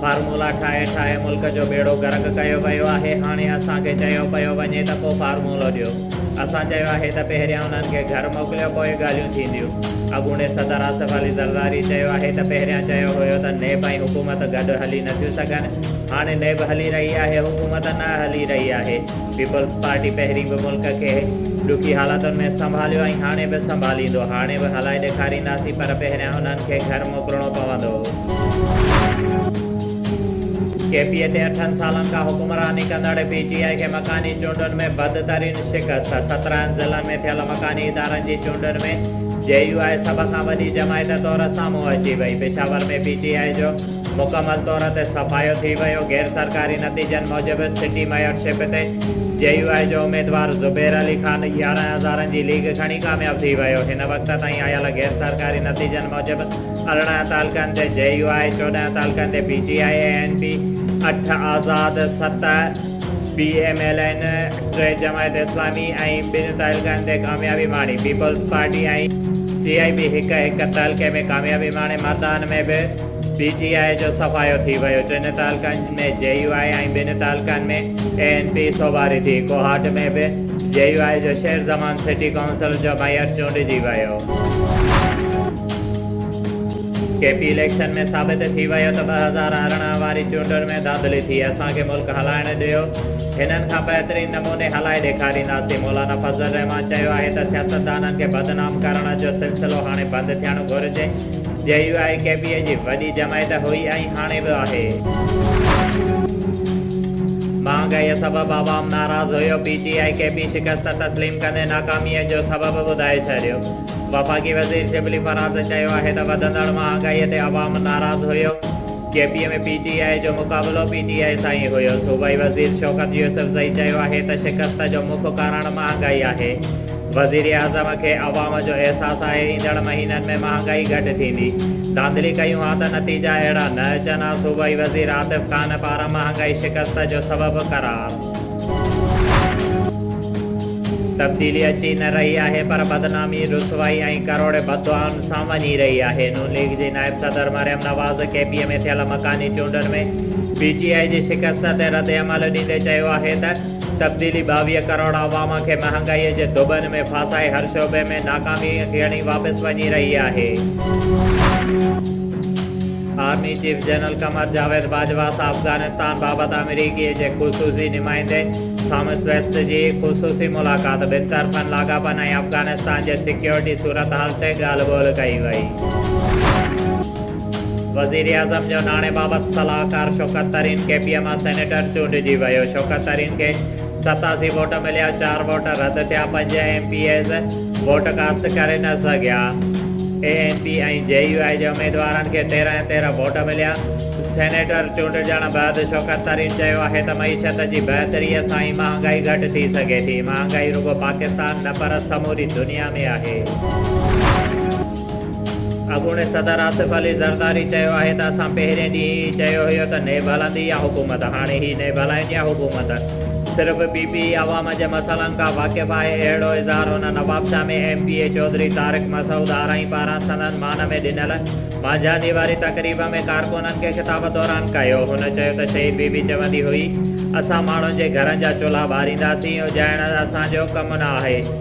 Formula ٺاهي ٺاهي ملڪ جو ٻيڙو غرق ڪيو ويو آهي هاڻي اسان کي چيو پيو وڃي ته ڪو فارمولو ڏيو اسان چيو آهي ته پهريان انهن کي گهر موڪليو پوء ڳالهيون ٿينديون اڳوڻي صدر آصف علي زرداري چيو آهي ته پهريان چيو هيو ته نيب ۽ حڪومت گڏ هلي نٿيون سگهن هاڻي نيب هلي رهي آهي حڪومت نه هلي رهي آهي پيپلز پارٽي پهرين به ملڪ کي ڏکي حالاتن ۾ سنڀاليو ۽ هاڻي به سنڀاليندو، هاڻي به هلائي ڏيکارينداسين پر پهريان انهن کي گهر موڪلڻو پوندو. ڪي پي تي اٺن سالن کان حڪمراني ڪندڙ پي ٽي آء کي مڪاني چونڊن ۾ بدترين شڪست، سترهن ضلعن ۾ ٿيل مڪاني ادارن جي چونڊن ۾ جي يو آء سڀ کان وڏي جماعت طور سامهون اچي وئي، پشاور ۾ پي ٽي آء جو. مڪمل طور تي صفايو ٿي ويو، غير سرڪاري نتيجن موجب سٽي ميئر شپ تي جي يو آء جو اميدوار زبير علي خان يارهن هزارن جي ليڊ کڻي ڪامياب ٿي ويو، هن وقت تائين آيل غير سرڪاري نتيجن موجب ارڙهن تعلقن تي جي يو آء، چوڏهن تعلقن تي P T I A N P, اٺ آزاد، ست بي ايم ايل اين، ٽي جماعت اسلامي ۽ ٻن تعلقن تي ڪاميابي ماڻي، پيپلز پارٽي ۽. ٽي آء بي هڪ هڪ تعلقي ۾ ڪاميابي ماڻي، مردان ۾ به. پي ٽي آء جو صفايو ٿي ويو، ٽن تعلقن ۾ جي يو آء ۽ ٻن تعلقن ۾ اي اين پي سوڀاري ٿي، ڪوهاٽ ۾ به جي يو آء جو شير زمان سٽي ڪائونسل جو ميئر چونڊجي ويو. ڪي پي اليڪشن ۾ ثابت ٿي ويو ته ٻه هزار ارڙهن واري چونڊن ۾ ڌانڌلي ٿي، اسان کي ملڪ هلائڻ ڏيو، هنن کان بهترين نموني هلائي ڏيکارينداسين، مولانا فضل الرحمان چيو آهي ته سياستدانن کي بدنام ڪرڻ جو سلسلو هاڻي بند ٿيڻ گهرجي. J U I K P اي جي وڏي جماعت هئي ۽ هاڻي به آهي. مهانگائيء سبب عوام ناراض هيو، P T I K P شڪست تسليم ڪندي ناڪاميء جو سبب ٻڌائي ڇڏيو. وفاقي وزير شبلي فراز چيو آهي ته وڌندڙ مهانگائيء تي عوام ناراض هيو، K P M ۽ P T I جو مقابلو پي ٽي آء سان ئي هيو، صوبائي وزير شوڪت يوسفزئي چيو آهي ته شڪست جو مک ڪارڻ مهانگائي آهي، وزيراعظم کي عوام جو احساس آهي، ايندڙ مهينن ۾ مهانگائي گهٽ ٿيندي، ڌانڌلي ڪيون ها ته نتيجا اهڙا نه اچن ها، صوبائي وزير عاطف خان پاران مهانگائي شڪست جو سبب قرار. تبديلي اچي نه رهي آهي پر بدنامي، رسوائي ۽ ڪروڙين بددعائن سان وڃي رهي آهي. نون ليگ جي نائب صدر مريم نواز ڪي پي اي ۾ ٿيل مڪاني چونڊن ۾ پي ٽي آء جي شڪست تي ردعمل ڏيندي چيو آهي ته تبديلي ٻاويهه ڪروڙ عوام کي مهانگائي جي دٻن ۾ ڦاسائي هر شعبي ۾ ناڪامي ڳڻي واپس وڃي رهي آهي. Army chief general Qamar Javed Bajwa سان افغانستان بابت آمريڪي جي خصوصي نمائندي ٿامس ويسٽ جي خصوصي ملاقات، ٻن طرفن لاڳاپن ۽ افغانستان جي سيڪيورٽي صورتحال تي ڳالهه ٻولهه ڪئي وئي. وزيراعظم جو ناڻي بابت صلاحڪار Shaukat Tarin K P M I senator چونڊجي ويو، شوڪت ترين کي ستاسي ووٽ مليا، چار ووٽ رد ٿيا، پنج M P A's, vote cast ڪري نه سگهيا، A N P ۽ J U I جي اميدوارن کي تيرهن ۽ تيرهن ووٽ مليا، سينيٽر چونڊجڻ بعد شوڪت ترين چيو آهي ته معيشت جي بهتري سان ئي مهانگائي گهٽ ٿي سگهي ٿي، مهانگائي رڳو پاڪستان نه پر سموري دنيا ۾ آهي. اڳوڻي صدر آصف علي زرداري چيو آهي ته اسان پهرين ڏينهن ئي چيو هيو ته نيب هلندي يا حڪومت، هاڻي هي نيب هلائين يا حڪومت. صرف پي پي ئي عوام جي مسئلن کان واقف آهي اهڙو اظهار هن Nawabshah ۾ M P A Chaudhry Tariq Masood Arain پاران سندن مان ۾ ڏنل مانجهاندي واري تقريب ۾ ڪارڪنن کي خطاب دوران ڪيو هن چيو ته شهيد بي بي چوندي هئي اسان ماڻهن جي گهرن جا چلها ٻارينداسين اجهائڻ اسان جو ڪم نه آهي.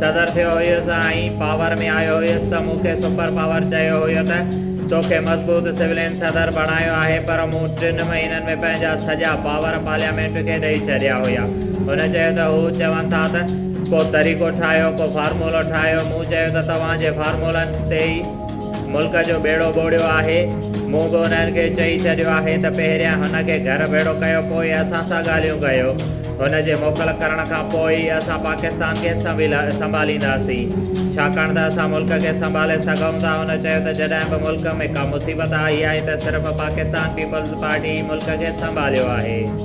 صدر ٿيو هيس ۽ پاور ۾ آيو هيس ته مون کي سپر پاور چيو هيو ته تو کي مضبوط سولين صدر بڻايو آهي پر مون ٽن مهينن ۾ پنهنجا سڄا پاور پارليامينٽ کي ڏئي ڇڏيا هيا. هن چيو ته هو چون ٿا ته ڪو طريقو ٺاهيو ڪو فارمولو ٺاهيو مون چيو ته توهان جي فارمولن تي ئي ملڪ جو ٻيڙو ٻوڙيو آهي. مون به انهن کي چئي ڇڏيو آهي ته پهريان هن کي گهر ڀيڙو ڪيو پوء اسان سان ڳالهيون ڪيو. هن جي موڪل ڪرڻ کان پوء ئي اسان پاڪستان کي سنڀالينداسين. ڇاڪاڻ ته اسان ملڪ کي سنڀالي سگهون ٿا. هن چيو ته جڏهن به ملڪ ۾ ڪا مصيبت آئي آهي ته صرف پاڪستان پيپلز پارٽي ئي ملڪ کي سنڀاليو آهي.